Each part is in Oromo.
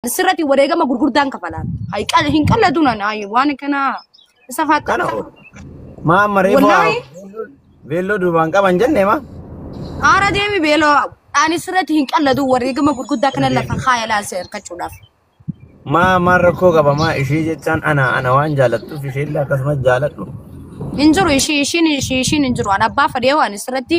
sirratti wareegama gurguddaan kafalaan. Hay qal hin qalladun ana ay waan kana isa kana faaxxana. ol maa amma reefu Wallaahi. beelloo duubaan qaban jenne maa Haara deemi beeloo ani sirratti hin qalladun wareegama gurguddaa kana lafa kaayalaan si hirkachuudhaaf. maa maa rakkoo qaba maa ishee jechaan ana ana waan jaalattuuf isheellee akkasumas jaaladhu Hin jiru ishii ishiin ishii ishiin hin jiru. Ani abbaa fadhee waan sirratti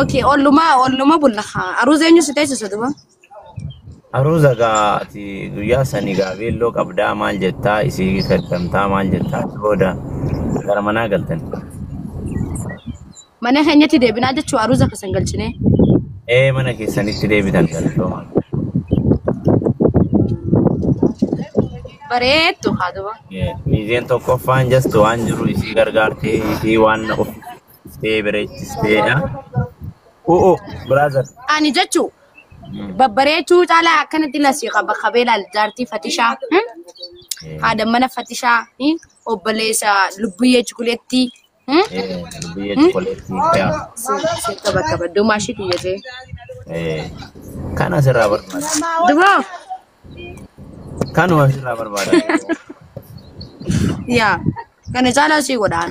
Ok, olluma, olluma bulla. Aruuza eenyu si teessisa duba? Aruuza gaa ati guyyaa sani gaa beelloo qabdaa maal jettaa isii kaddamtaa maal jettaa achi booda gara manaa galtan. Mana keenyatti deebinaa jechuu aruuza kasan galchinee. Ee mana keessanitti deebitan galatooma. Bareeddu haa duba. Miizeen tokkoffaan jastu waan jiru isii gargaartee isii waan of Dhuftee bareechisteedha. Oo brother. Ani jechu babbareechuu caalaa akkanatti lasii qaba kabeelaal jaartii fatishaa hmm? haadha mana fatishaa hmm? obboleessa lubbuyyee chukuleetti hmm? Biyya Hmm? chokoleettii. Si- si qaba qaba dumaa shi biyya jee Kan asirraa barbaada. dumaa Kanuma asirraa barbaada. yaa kana caalaa sii godhaan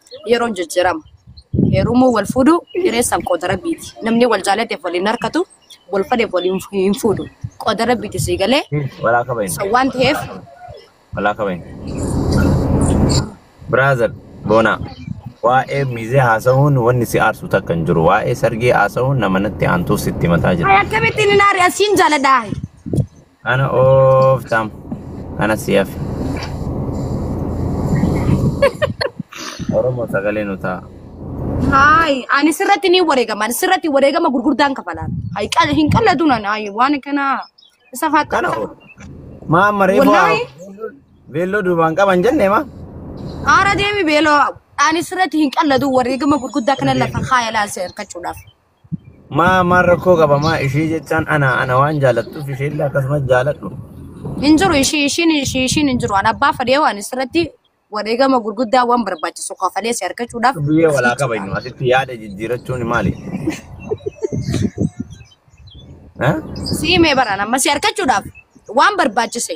yeroon jijjiirama. Heerumuu wal fuudhu hireessaan qooda rabbiiti. Namni wal jaalateef waliin harkatu wal fadheef waliin hin fuudhu. Qooda rabbiiti sii galee. Walaa kabayin. So waan ta'eef Walaa kabayin. Brother Boonaa. Waa'ee mizee haasa'uun wanni si aarsu takka hin jiru. Waa'ee sargii haasa'uun nama natti aantuuf sitti mataa jira. akkamittiin hin aari asiin jaaladhaa. Ana ooftaam. Ana si hafe. Oromoo sagalee nu ta'a. Haay, ani sirratti ni wareegama. Ani sirratti wareegama gurguddaan kafalaan. Haay, qal- hin qalladun ani haay, waan kana isa faatti. Kana oo. Maa amma reefu Wallaahi. beelloo duubaan qaban jenne maa? Haara deemi beeloo. Ani sirratti hin qalladun wareegama gurguddaa kana lafa kaayalaan si hirkachuudhaaf. Maa maan rakkoo qaba maa ishee jechaan ana ana waan jaalattuuf isheellee akkasumas jaaladhu. Hin jiru ishii ishiin ishii ishiin hin jiru. An abbaa fadhee waan isirratti wareegama gurguddaa waan barbaachisu kafalee si argachuudhaaf Biyyee walaa fiichuudhaaf. kabajnu asitti yaada jijjiirachuun maali? Eh? Siimee baraan amma si argachuudhaaf waan barbaachise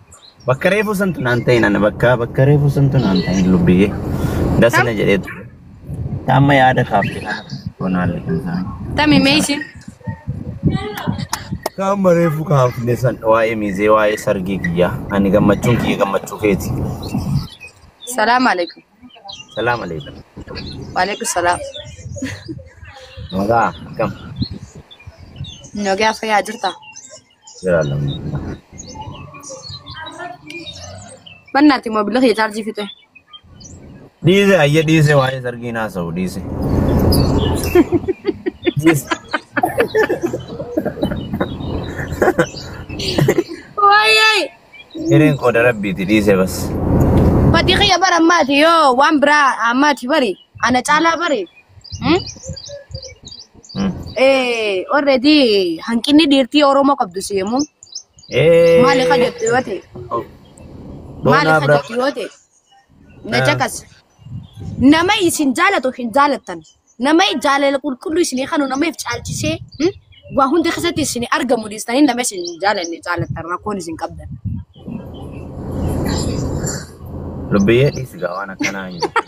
Bakka reefuu santu naan ta'in ana bakka bakka reefuu santu naan ta'in lubbiyyee. Dasa Tam? na jedhee ture. Amma yaada kaafte kana bonaale kan ta'an. Tami mee ishiin. Amma reefuu kaafne san waa'ee miizee waa'ee sargii kiyyaa ani gammachuun kiyya gammachuu keeti. Salaam alaikum. Salaam alaikum. Waalaikum salaam. Nagaa akkam. Nogee afayyaa jirtaa? Jalaala. Bannaati moobila kee chaarjii fixee. Dhiise ayya dhiise waa'ee sargii naa sa'u dhiise. Dhiise. Waayee! Hireen qooda rabbiiti dhiise bas. Fatii kiyya bara ammaati yoo waan biraa ammaati bari ana caalaa bari Hmm? Eh, already hanqinni dhiirtii Oromoo qabdu si yommuu maali ka jettu yoo ta'e maali ka jettu yoo ta'e na caqas nama isin jaalatu hin jaalattan nama jaalala qulqulluu isinii kanu namaif caalchisee hmm? Waa hunda keessatti isin argamu dhiistanii nama isin hin jaalanne jaalattan rakkoon isin qabdan. Lubbiyyee dhiisi gaa waan akkanaa hin jirtu.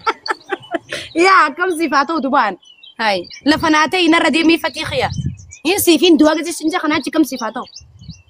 Yaa akkam siif haa ta'u dubaan. Hai lafa naa ta'e narra deemee fatii kiyya. Hin siif hin du'a gisi sinja kanaa achi kam siif haa ta'u.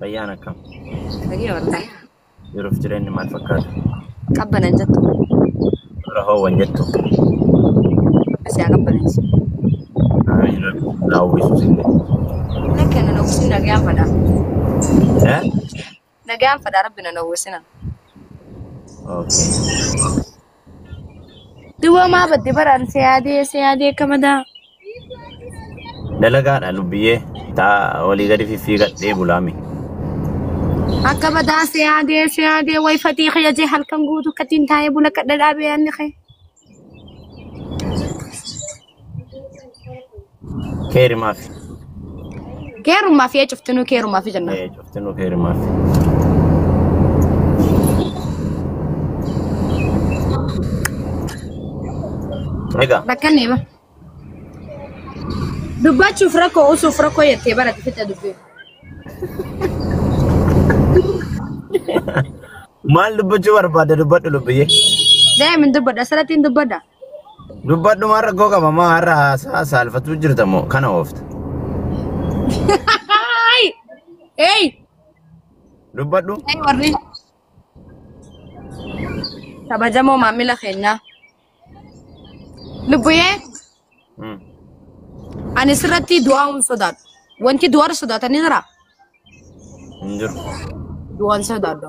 Fayyaan akkam? Nagee waltaa. Jiruuf jireenyi maal fakkaata? Qabbanan jettu. Dura hoowwan jettu. Asii haa qabbanansu. Amiin rabbi naa uwwisu sinne. Akka na nawwisin nagaan fadha. Eh? Nagaan fadha rabbi na nawwisina. Okay. Duwwaa maa badde baraan si yaadee si yaadee akka madaa. Dalagaadha lubbiyyee. Taa olii gadi fiffiigadhee bulaami. Akka madaa si yaadee si yaadee way fatii kiyya jee halkan guutuu kattiin taa'ee bula kadha dhaabee yaanni kee. Keerimaaf. Keerummaa fi cuftinuu keerummaa fi jenna. Cuftinuu keerimaaf. Egaa. Rakkanne ba. Dubbachuuf rakkoo usuuf rakkoo jettee barate fidda dubbii. Maal dubbachuu barbaadda dubbadhu lubbiyyee. Daa'imni dubbadha asirratti hin dubbadha. Dubbadhu maa rakkoo qaba maa har'a haasaa saalfatuu jirta moo kana oofta. Haay! Hey! Dubbadhu Hey warri kabajamoo maamila keenyaa. Lubbuyee Hmm. ani sirratti du'aa hin sodaadhu. Wanti du'aarra sodaatanii jira. hin jiru. Du'aan sodaadhu.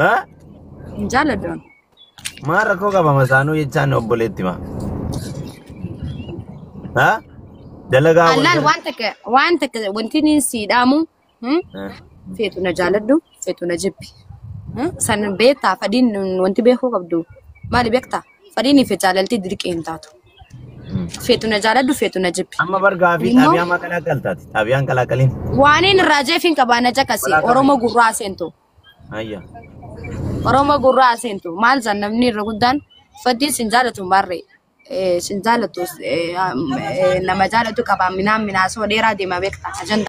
Haa? Hin jaaladhu. Maal rakkoo qaba masaanuu jechaan obboleetti maa? Haa? Dalagaa wal Allaal jala. waan takka waan takka wanti inni sii dhaamu hmm? Haa? feetu na jaaladhu feetu na jibbi. Hmm? San beektaa fadhiin wanti beekuu qabdu maali beektaa? Fadhiinii fi jaalalti dirqii hin taatu. Feetu na jaaladhu feetu na jibbi. Amma bar gaafii Immoo- xaabiyaa maa qalaaqqaltaati? Xaabiyaan qalaaqaliin. Waaniin irraa jeefiin qabaa na caqasi. Qalaaqalii. Oromoo gurraa seentu. Ayya. Oromoo gurraa seentu. Maal san namni irra guddaan faddiin sin jaalatu maarree. Eh, Sin jaalatu eh, am- eh, nama jaalatu qabaa minaan minaasoo dheeraa deema beekta. Ajandaa.